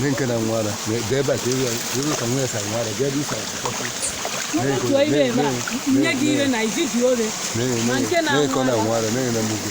nke na nwara bịa ebe a ka ebe ebe ka nwa ya sa nwara bịa ebe isa otu ibe ebe a nye gị ire na izizi ore ma nke na nwara na-enye na mgbe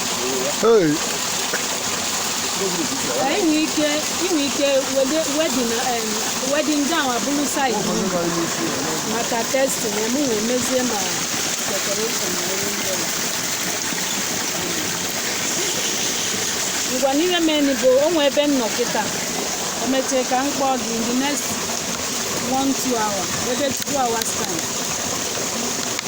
enwe ike inwe ike wedding gown abụrụ said maka testing ya mụ wee mezie ma decoration na ihe ndị ọzọ. ngwanụ ihe meni bụ o nwe ebe m nọ kịta emechaa ka m kpọọ gị in the next one two hours maybe two hours time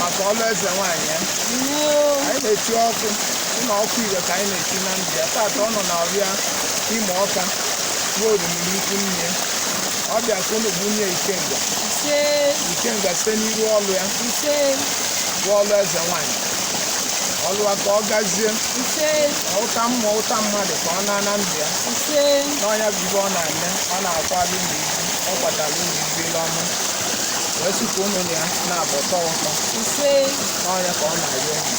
maka ọlụ eze nwaanyị ya anyị na-eti ọkụ na ọkụ igwe ka anyị na-eti na ya tata ọ nọ na ọrịa Imọka ruo orimiri ikwu nne ọ bịa ka unu bunye ya ikenga ise ikenga site n'iru ọlụ ya ise bụ ọlụ eze nwanyị ọlụ ya ka ọ gazie ise ụta mmụọ ụta mmadụ ka ọ naa na ndụ ya ise na ọ nya bụ ife ọ na-eme ọ na-akwali ụlọ ibu ọ kwatara ụlọ ibu ile ọma wee sị ka ụmụ ya na-abụ tọ ụtọ ise na ọ nya ka ọ na-arịọ unu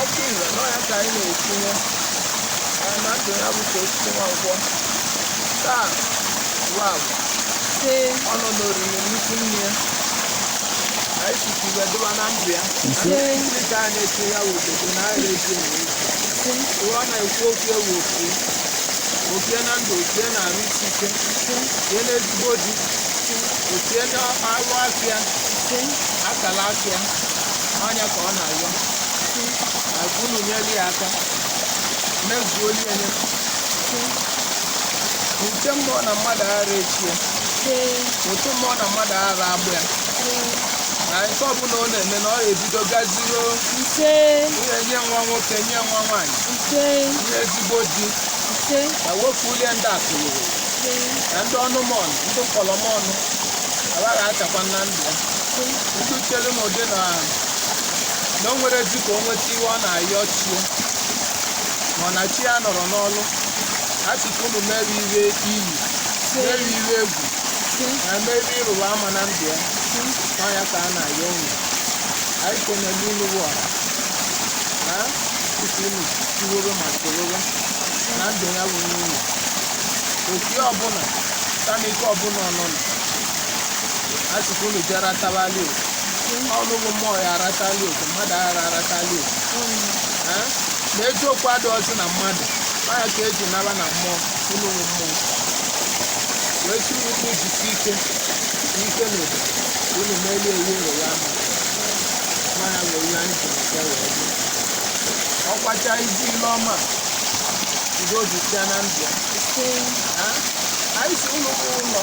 ọkụ ire na ọ ya ka anyị na-etinye ya na ndụ ya bụ ka osisi nwankwọ taa ruo agwa Ee, ọ nọ n'orimiri ikwu nne ya ka anyị sisi iwe dụba na ndụ ya ee, ndị ka a na-eche ya wụ obodo na a na-eche ya ewu. ee, Uwe ọ na-ekwu okwu ewu okwu okie na ndụ okie na arụ isi ike okie na ezigbo di okie na arụ afịa ee, akala afịa ọ nya ka ọ na-ayọ sị na unu nyere ya aka mezuo ihe nye sị ụta mmụọ na mmadụ ara echi ya ụta mmụọ na mmadụ ara agbụ ya na nke ọbụla ọ na-eme na ọ ebido gazigo ihe nye nwa nwoke nye nwa nwaanyị ihe ezigbo di na nwoke ulie ndị akụlụrụ na ndị ọnụmọnụ ndị mkpọrọmọnụ agaghị achakwa na ndụ ya ndị chere m ụdị na na o nwerezi ka o nweta ife ọ na-ayọ chi ya mana chi ya nọrọ n'ọlụ a sị ka unu mere ife iyi mere ife egwu na mere ịrụwa ama na ndụ ya ọ ya ka a na-ayọ unu anyị kenele unu bụ ọha na tupu unu tiworo ma tororo na ndụ ya bụ unu oke ọbụla tanike ọbụla ọnụnụ a sị ka unu jee rataba ali oke ọnụ bụ mmụọ ya arata ali oke mmadụ aghara arata ali oke Eh? na eziokwu adịghịzi na mmadụ ọ ya ka e ji naba na mmụọ unu bụ mmụọ wee sị unu unu jisie ike n'ike na obodo unu melie ewu ụlọ ya ama mmanya wee ihe anyị jiri bịa wee bịa ọkwacha ibu ile ọma udo dịzịa na ndụ ya Eh? anyị sị unu bụ ụlọ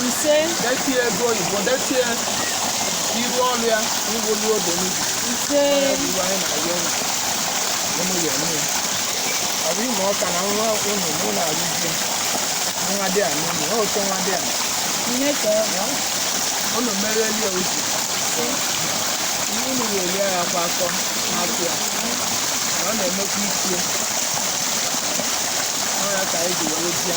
ise detie ego oyibo detie iru ọrụ ya iwolu odo n'ibi ise ife anyị na-ayọ unu unu ya eme ya ọ bụ Imoka na nwa unu mụ na-alụzi nwa dị a n'ụlọ ọ oke nwadịana ka ọ bụ unu merelie uche ihe unu ga-eri ya kwa akọ n'afọ ya na ọ na-emekwa ichie ọ ya ka anyị ji were bịa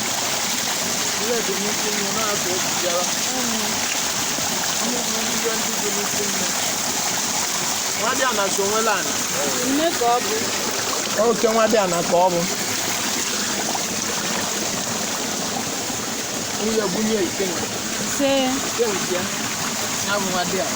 ihe dị n'isi nnu na-azụ ejijara mmụbụ ihe ndị dị n'ikwu nne nwadịana so nwelu ana Nne ka ọ bụ. oke nwadịana ka ọ bụ nwunye bunye ikenga Ise. ikenga ya ya bụ nwadịana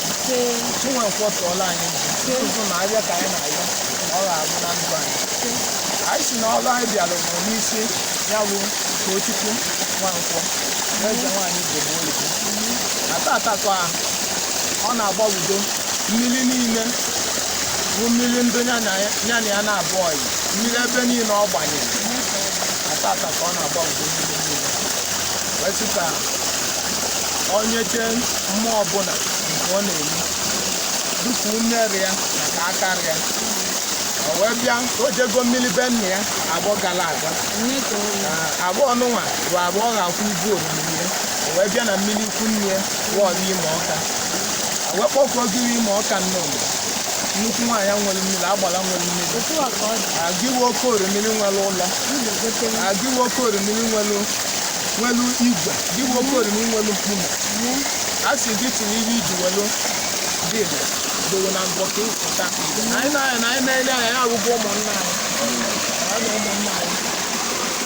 Chinwe Nkwọ tụọla anyị nzu nzu na arịa ka anyị na-arịọ na ọ ga-abụ na ndụ anyị anyị sị na ọrụ anyị bịara bụ n'isi ya bụ Tochukwu Nwankwọ eze nwaanyị Igbo oyibo na tata ka ọ na-agbawudo mmiri niile bụ mmiri ndị ya na ya na-abụ ọyị mmiri ebe niile ọ gbanyere na tata ka ọ na-agbawudo mmiri niile wee sị ka o nyechee mmụọ ọbụla nke ọ na-eme dịka ume ra ya na ka aka ra ya o wee bịa o jego mmiri be nna ya afọ gara aga na afọ nụnwa bụ afọ ga-akwụ ibu oriri ya o wee bịa na mmiri ikwu nne ya wọọlụ Imoka o wee kpọkuo ogiri Imoka nnọọ nnukwu nwaanyị nwere mmiri agbara nwere mmiri gịwa oke orimiri nwere ụlọ gịwa oke orimiri nwere nwelu igwe gị bụ oke orimiri nwelu mkpume a sị gị tinye ihe iji welu dịbụ dowe na mbọ ka ịpụta na anyị na-anya na anyị na-ele anya ya arụgwọ ụmụnna anyị ya na ụmụnna anyị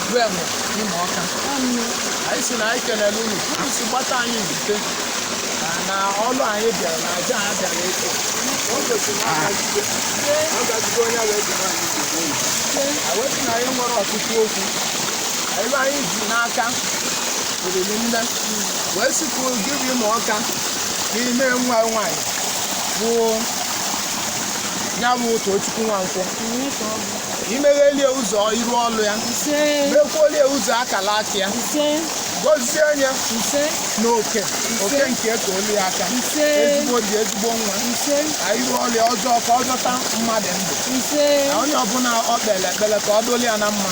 bụ enwe Imọka anyị si na anyị kelele unu unu si gbata anyị zute na- na ọlụ anyị bịara na aja anyị bịara ịchụ o gosiri na ọ gazigo ọ gazigo onye wee jiri anyị zute unu. Awezi na anyị nwere ọtụtụ okwu ebe anyị ji n'aka oriri nne wee sikwu gị bụ Imọka n'ime nwa nwaanyị bụ ya bụ Tochukwu Nwankwọ imeghelie ụzọ iru ọlụ ya mekwolie ụzọ akala aka ya gọzie ya n'oke oke nke ka olu ya aka ezigbo di ezigbo nwa iru ọlụ ya ọzọ ka ọ zọta mmadụ ndụ na onye ọbụla ọ kpere ekpere ka ọ doli ya na mma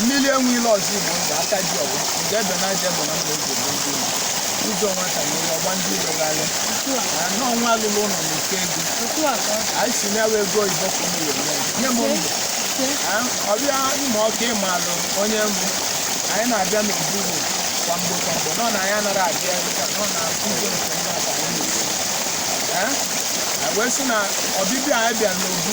mmiri enwe ilo ọzọ Igbo ndụ aka ji ọwa nke ebe na aja ebe na mma oge bụ ndị Igbo. ụzọ nwata na ụlọ gba ndị ilo gharịa anọ nwa alụlụ ụlọ na oke ego anyị si na ewe ego oyibo ka ụmụ were mee nye m ndụ Ah, ọbịa Imọka ị malụ onye mbụ anyị na-abịa n'obu ugbo kwa mgbe kwa mgbe nọ na anyị anaghị abịa ebe ka nọ na ụzọ nke ndị abalị na-esi Eh? anyị wee sị na ọbịbịa anyị bịara n'obu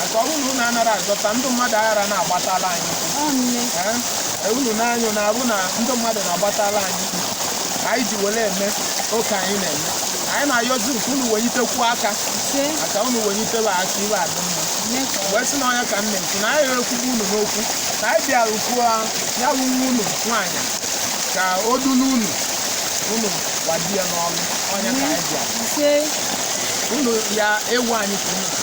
Maka ọ bụrụ na unu anara azọta ndị mmadụ aghara na-agbatala anyị ụkwụ. Ọ nne. Ee, ee, unu na-anyụ na abụ na ndị mmadụ na-agbatala anyị ụkwụ. Ka anyị ji were eme oke anyị na-eme. Anyị na-ayọzi nke unu wenyitekwu aka Ise. maka unu wenyitebe aka ibe adị mma. Nne ka ọ. wee sị na ọ nya ka m na-ekwu na anyị ekwugbu unu n'okwu na anyị bịara kwuo ya bụ nwa unu nwaanyị ka o dulu unu unu gbadi ya n'ọnụ ọ nya ka anyị bịara Ise. unu ya ewu anyị ka unu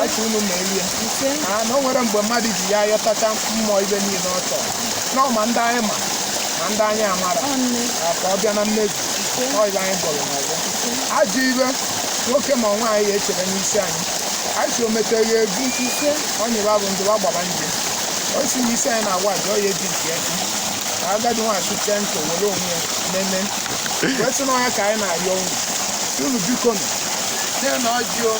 anyị ka unu merie na na o nwere mgbe mmadụ ji ya ayọtacha mmụọ ibe niile ọ chọrọ na ọ ma ndị anyị ma ma ndị anyị amara na ka ọ bịa na mmezu ọ ibe anyị gọrọ n'ọfọ ajọ ibe nwoke ma nwaanyị ya echere n'isi anyị anyị si o mete ya egwu ọnyịba bụ ndụba gbaba nje o si na isi anyị na-agwa aja ọ ya eji nke ya ka agadi nwaanyị chụchie ntụ were onwe ya nene wee sị na ọ nya ka anyị na-arịọ unu si unu biko nụ na ọjị o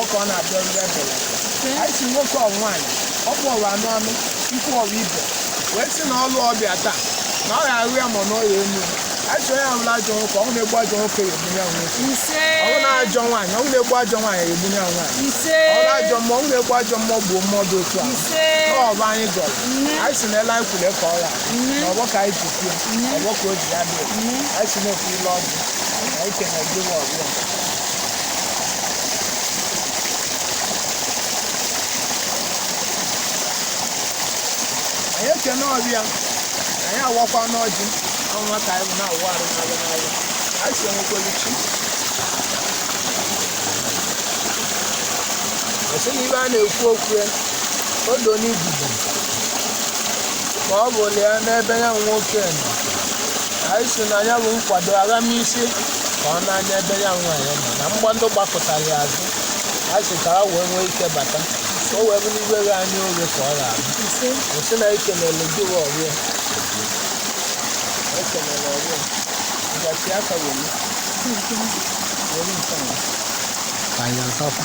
ọkọ ọ na-abịa ọrụ ya bịara anyị si nwoke ọ nwaanyị ọ kpọrọ anụ anụ ikwu ọrụ ibe wee sị na ọlụ ọ bịa taa na ọ ga-ahụ ya ma na ọ ya enu anyị si onye ọbụla ajọ nwoke ọnwụ na-egbu ajọ nwoke ya egbu nya bụ nwoke ise ọ bụ na ajọ nwaanyị ọnwụ na-egbu ajọ nwaanyị ya egbu nya bụ nwaanyị ise ọ bụ ajọ mmụọ ọnwụ na-egbu ajọ mmụọ gbuo mmụọ dị otu a ise ọfọ anyị gọrọ anyị si n'ele anyị kwule ka ọ ra ọfọ ka anyị ji kwuo ọfọ ka o ji ya dị anyị si na-ekwu ile ọdụ anyị kene gị ọbịa anyị ekene ọbịa anyị awakwa n'ọjị ọnwa ka anyị na-awụ arụ n'alụ n'alụ anyị si enwekwelu chi ọsị na ibe a na-ekwu okwu ya odo n'ibubo ma ọ bụ lee n'ebe ya nwoke nọ anyị si na ya bụ nkwado aghamisi ka ọ na-anya ebe ya nwaanyị nọ na mgba ndị gbakụtara ya azụ a sị ka ha wee nwee ike bata ka o wee bụrụ ihe ghe anya oghe ka ọ ga-abụ ise o sị na ekenele gị wa ọhịa ekenele ọhịa ngasi aka were were nke ahụ ka anyị atakwa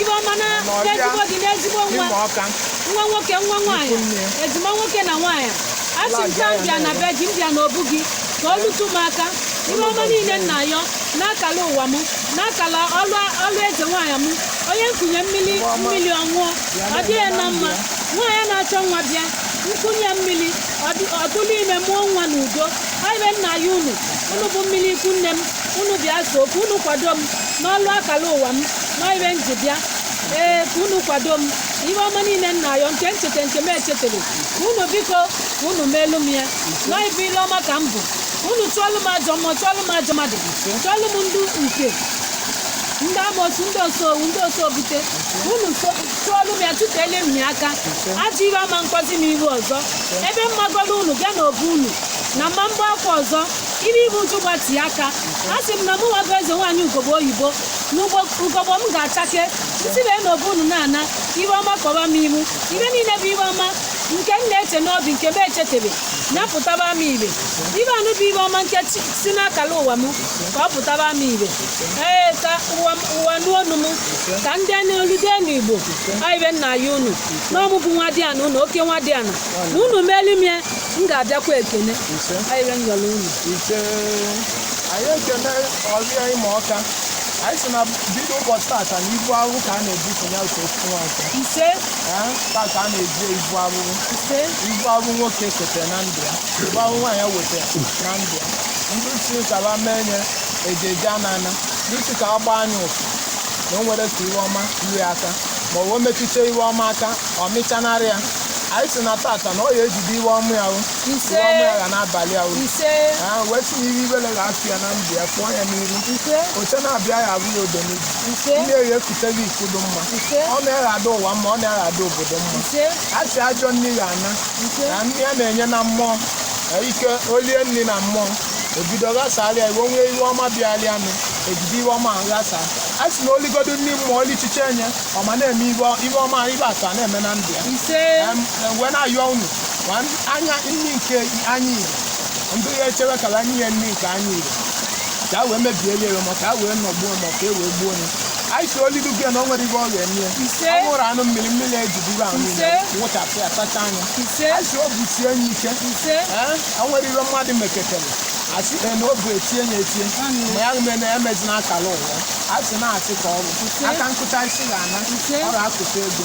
ibe ọma na n'ezigbo gị n'ezigbo nwa nwa nwoke nwa nwaanyị ejima nwoke na nwaanyị a sị m ka m bịa na be gị m bịa na obu gị ka o lutu m aka ibe ọma niile m na-ayọ n'akala ụwa m n'akala ọlụ ọlụ eze nwaanyị m onye nkunye mmiri mmiri ọ ṅụọ ọ dị ya na mma nwaanyị na-achọ nwa bịa nkunye mmiri ọdụ- ọ tụlụ ime mụọ nwa n'udo ọ ibe m na-ayọ unu unu bụ mmiri ikwu nne m unu bịa so okwu unu kwado m n'ọlụ akala ụwa m na ọ ibe m ji bịa ee ka unu kwado m ihe ọma niile m na-ayọ nke m cheta nke m echetara ka unu biko ka unu meelu m ya na ọ ibe ile ọma ka m bụ ka unu chụọlụ m ajọ mmụọ chụọlụ m ajọ mmadụ chụọlụ m ndị nke ndị amosu ndị osowu ndị osobute unu so- chụọlụ m ya chụtele m ya aka ajọ ihe ama akpọzi m iru ọzọ ebe m magoro unu bịa na obu unu na m ma agba aka ọzọ iri ibu uju gbati aka a sị m na mụ nwago eze nwaanyị ugogbe oyibo n'ugogbe m ga-achake isi wee n'obu unu na-ana ibe ọma kpọba m ihu ibe niile bụ ibe ọma nke m na-eche n'obi nke m echetebe ya pụtaba m ibe ibe anụ bụ ibe ọma nke chi- si n'akala ụwa m ka ọ pụtaba m ibe ee ka ụwa m- ụwa nụ onu m ka ndị nọ olu ndị nọ igbo ọ ibe m na-ayọ unu na ọ mụ bụ nwadiana unu oke nwadiana na unu melu m ya m ga-abịakwa ekene ọ ibe m yọrọ unu anyị ekene ọhịa Imoka anyị si na bido ụbọchị tata na ibu ahụhụ ka a na-ebuso ya otu ofu nwa nke ise Ee, tata a na-eji ibu ahụhụ ise ibu ahụhụ nwoke ketere na ndụ ya ibu ahụhụ nwaanyị wetara na ndụ ya ndị si ka ba mee nye eje eje ana ana ndị si ka agba anya ụfụ na o nwere ka ihe ọma iwe aka ma o wee metụta ihe ọma aka ọ mịchanarị ya anyị si na tata na ọ ya ejide ihe ọma ya hụ ise ụwa mụ agha n'abalị a uru ise ha wee si n'iru ibele ga-afụ ya na ndụ ya pụọ ya n'iru ise oche na-abịa ya abụ ya odo n'ihu ise ndị eyi ekute gị ikudo mma ise ọ na-eghe ada ụwa mma ọ na-eghe ada obodo mma ise a sị ajọ nri ga ana ise na nri a na-enye na mmụọ na ike o lie nri na mmụọ ebido ghasarịa iwe nwee ihe ọma bịarịanụ e bido ihe ọma ghasa a sị na o ligodo nri mmụọ olichiche enye ọma na-eme ihe ihe ọma ibe atọ a na-eme na ndụ ya ise Em, em, wee na-ayọ unu ma ndị- anya nri nke anyị iri ndị ya echewe ka a nye ya nri nke anyị iri ka a wee mebiele ya ma ka a wee nọgbuo ma ka e wee gbuo ya anyị sị o lidu gị na o nwere ihe ọ ga-eme ya Ise. ọ ṅụrụ aṅụ mmiri mmiri ejiduru ahụ niile Ise. wụchapụ ya sachaa ya ise anyị sị obi sie anyị ike ise Ee, o nwere ihe mmadụ meketere a sị na ọ bụ etie ya etie ma ya mee na emezina akala ụwa a sị na-asị ka ọ bụ aka nkụta isi ga-ana Ise. ọ ga-akụta ego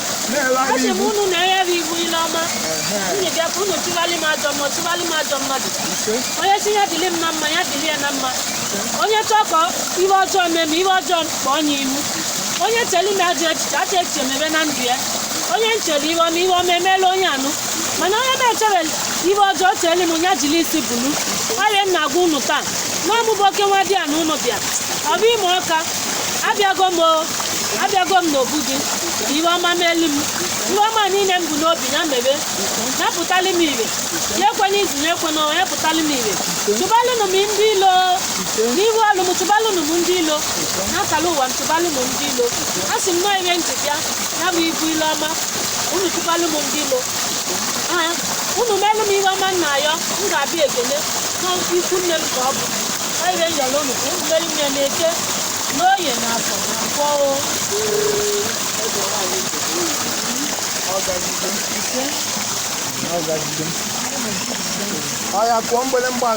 Asị m unu na-enyere iwu ile ọma unu bịa ka unu chụgharị m ajọ mmụọ chụgharị m ajọ mmadụ onye sị ya dịrị m na mma ya dịrị ya na mma onye chọọ ka ihe ọjọọ mee m ihe ọjọọ kpọọ ya ihu onye chere m ajọ echiche ajọ echiche mebe na ndụ ya onye nchere ihe ọma ihe ọma emeela onye anụ mana onye na-echere ihe ọjọọ chere m ya jiri isi bulu ọrịa m na-agwa unu taa n'ọmụbụ oke nwadiana unu bịa obu Imọka abịago m o abịago m n'obu gị ka ihe ọma meelu m ihe ọma niile m bu n'obi ya mebe ya pụtalị m ihe ya ekwe n'izu ya ekwe n'ọnwa ya pụtalị m ihe chụbalụnụ m ndị ilo n'ihu ọlụ m chụbalụnụ m ndị ilo n'akala ụwa m chụbalụnụ m ndị ilo a sị m nọọ ihe m ji bịa ya bụ ibu ile ọma unu chụbalụ m ndị ilo Ee, unu melụ m ihe ọma m na-ayọ m ga-abịa ekele n'ikwu nne m ka ọ bụ Ihe m yọlọ unu ka unu melu m ya n'eke n'oye na afọ na nkwọ o. Oya kụọ mgbelemgba.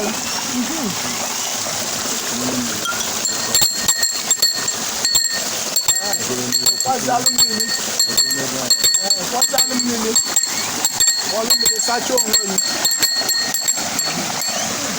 Kwazalụ mmiri. Ee, Kwazalụ mmiri. Ọlụ mmiri sachaa onwe gị.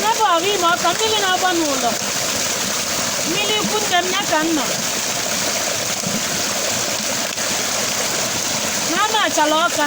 n'ebe obu Imọka mmiri na-agba n'ụlọ mmiri ikwu nne m ya ka m nọ n'Amachala Ọka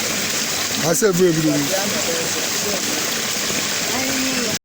ha sị ebu ebido